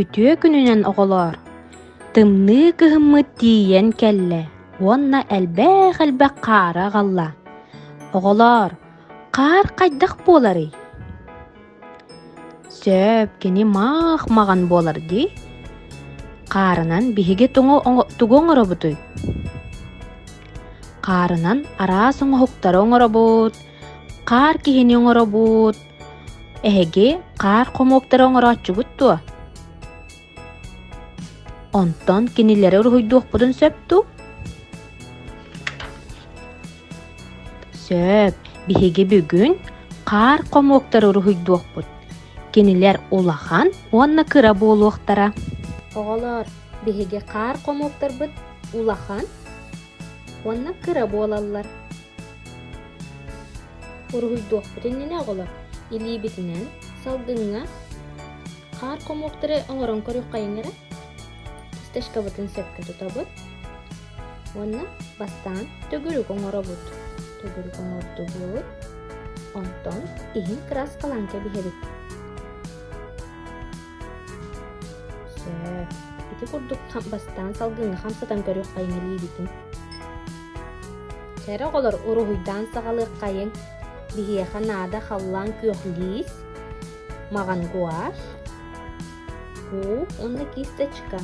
Үтүө күнүнэн оҕолоор! Тымныы кыһыммыт тиийэн кэллэ уонна элбэх-элбэх хаары аҕалла. Оҕолоор, хаар хайдах буоларый? Сөп кини маах-маҕан буолар дии. Хаарынан биһиги тугу оҥоробутуй? Хаарынан араас оҥоһуктары оҥоробут, хаар киһини оҥоробут, Эһиги хаар хомуоктары оҥорооччубут дуо? Онтон кинилэри уруһуйдуохпутун сөп дуу? Сөп. Биһиги бүгүн хаар хомуоктары уруһуйдуохпут. Кинилэр улахан уонна кыра буолуохтара. Оҕолоор, биһиги хаар хомуоктарбыт улахан уонна кыра буолаллар. уруһуйдуохпут иннинэ оҕолор илиибитинэн салгыҥҥа хаар хомуоктары оҥорон көрүөххэйиҥ эрэ фисташкабытын сөпкө тутобут уонна бастаан төгүрүк оҥоробут төгүрүк оҥордубут онтон иһин краскалаан кэбиһэбит Сөп. Ити курдук хам бастаан салгыҥҥа хам сытан көрүөххэйиҥ илиибитин. Кэрэ оҕолор уруһуйдаан саҕалыаххайыҥ биһиэхэ наада халлаан күөхлиис, маҕан гуашь, куп уонна кисточка.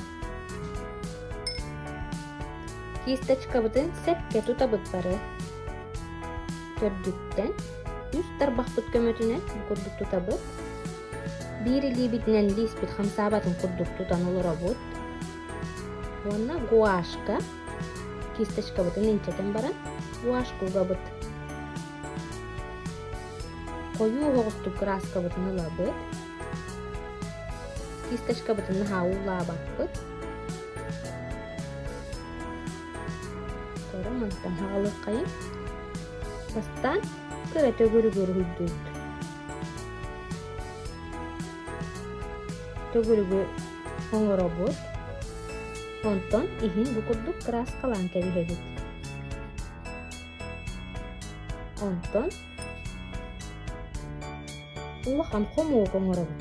Кисточкабытын сэккэ тутабыт бары. төрдүттэн үс тарбахпыт көмөтүнэн бу курдук тутабыт биир илиибитинэн лииспит хамсаабатын курдук тутан олоробут уонна гуашка кисточкабытын инчэтэн баран гуашка угабыт хойуу оһоҕустук краскабытын ылабыт кисточкабытын наһаа уулаабаппыт Кыра мантан хаалыаххайын бастаан кыра төгүрүгүр үрдүүт төгүрүгү оҥоробут онтон иһин бу курдук кырааскалаан кэбиһэбит онтон улахан хомуок оҥоробут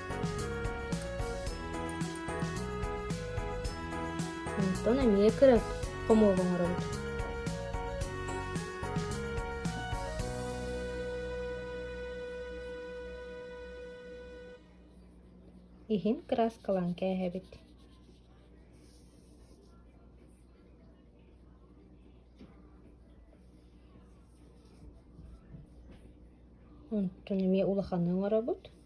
Онтон эмиэ кыра хомуок оҥоробут. Иһин краскалаан кээһэбит. Онтон эмиэ улаханы оҥоробут.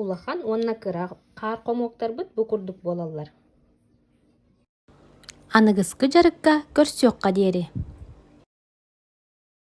Улахан уонна кыра хаар хомуоктарбыт бу курдук буолаллар аныгыскы дьарыкка көрсүөххэ диэри